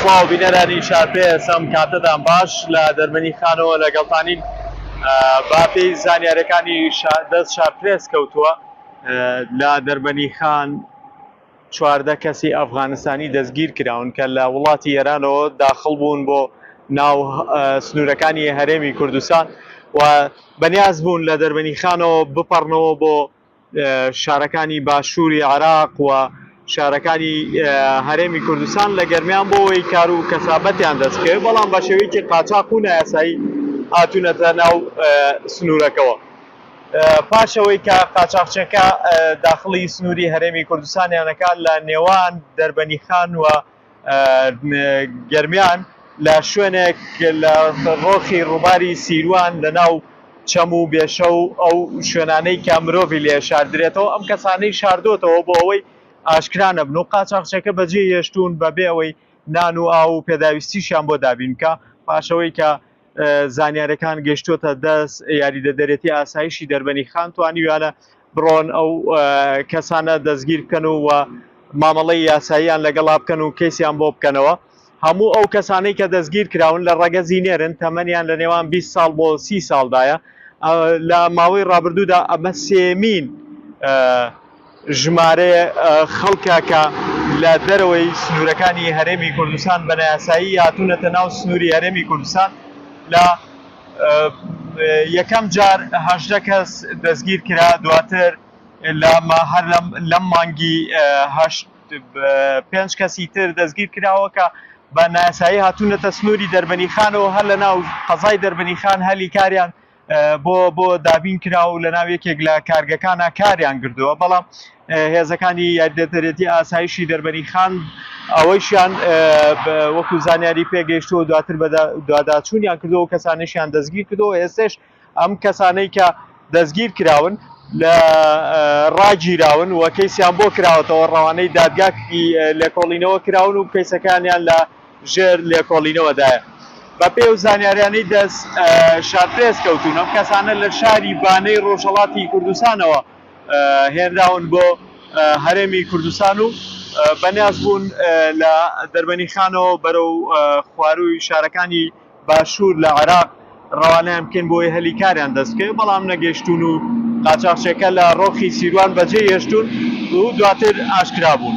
سڵاو بینەرانی چارپێس ئەم کاتەتان باش لە دەرمەنی خانەوە لەگەڵتانین با پێی زانیارەکانی دەست چارپرێس کەوتووە لە دەربەنی خان چواردە کەسی ئەفغانستانی دەستگیر کراون کە لە وڵاتی ئێرانەوە داخل بوون بۆ ناو سنوورەکانی هەرێمی کوردستان و بەنیاز بوون لە دەربەنی خانەوە بپەڕنەوە بۆ شارەکانی باشووری عێراق و شارەکانی هەرێمی کوردستان لە گەرمیان بۆەوەی کار و کەسابەتیان دەستکەوێت بەڵام بە شێوەیەکی قاچاق و نایاسایی هاتوونەتە ناو سنوورەکەوە پاشەوەی کە قاچاقچەکە داخڵی سنووری هەرێمی کوردستانیانەکە لە نێوان دەربەنیخان و گەرمیان لە شوێنێک لە ڕۆخی ڕووباری سیروان لە ناو چەم و بێشە و ئەو شوێنانەی کە مرۆڤی لێ شاردرێتەوە ئەم کەسانەی شاردۆتەوە بۆ ئەوەی ئاشکرا نەبن و قاچاخچێکە بەجێ هێشتوون بە بێ ئەوەی نان و ئاو و پێداویستیشیان بۆ دابین بکە پاشەوەی کە زانیارەکان گەشتووەتە دەست یاریدەدەرێتی ئاسایشی دەربەنی خان توانیویانە بڕۆن ئەو کەسانە دەستگیر بکەن و مامەڵەی یاساییان لەگەڵا بکەن و کەیسیان بۆ بکەنەوە. هەموو ئەو کەسانەی کە دەستگیر کراون لە ڕەگەزی نێرن، تەمەنیان لە نێوان بیست ساڵ بۆ سی ساڵدایە. لە ماوەی ڕابردوودا ئەمە سێیەمین ژمارەی خەڵکە کە لە دەرەوەی سنوورەکانی هەرێمی کوردستان بە نایاسایی هاتوونەتە ناو سنووری هەرێمی کوردستان لە یەکەم جار هەژدە کەس دەستگیر کرا، دواتر هەر لەم مانگی هەشت پێنج کەسی تر دەستگیر کراوە کە بە نایاسایی هاتوونەتە سنووری دەربەنیخان و هەر لە ناو قەزای دەربەنیخان هەلی کاریان بۆ بۆ دابین کرا و لە ناو یەکێک لە کارگەکانە کاریان کردووە بەڵام هێزەکانی یاریدەدەرێتی ئاسایشی دەربەنیخان ئەوەیشیان وەکو زانیاری پێگەیشتووە دواتر بە دواداچوونیان کردەوە کەسانیشیان دەستگیر کردەوە ئێستش ئەم کەسانەی کە دەستگیر کراون لە ڕاگیراون و کەیسیان بۆ کراوەتەوە ڕەوانەی دادگاکی لێکۆڵینەوە کراون و کەیسەکانیان لە ژێر لێکۆڵینەوەدایە بە پێ و زانیاریانەی دەست شارپرێس کەوتون ئەم کەسانە لە شاری بانەی ڕۆژهڵاتی کوردستانەوە هێنراون بۆ هەرێمی کوردستان و بە نیاز بوون لە دەربەنیخانەوە بەرەو خوارووی شارەکانی باشوور لە عێراق ڕەوانەیان بکەین بۆی هەلی کاریان دەست بکەوێت بەڵام نەگەیشتوون و قاچاخچێکە لە ڕۆخی سیروان بەجێی هێشتوون و دواتر ئاشکرا بوون.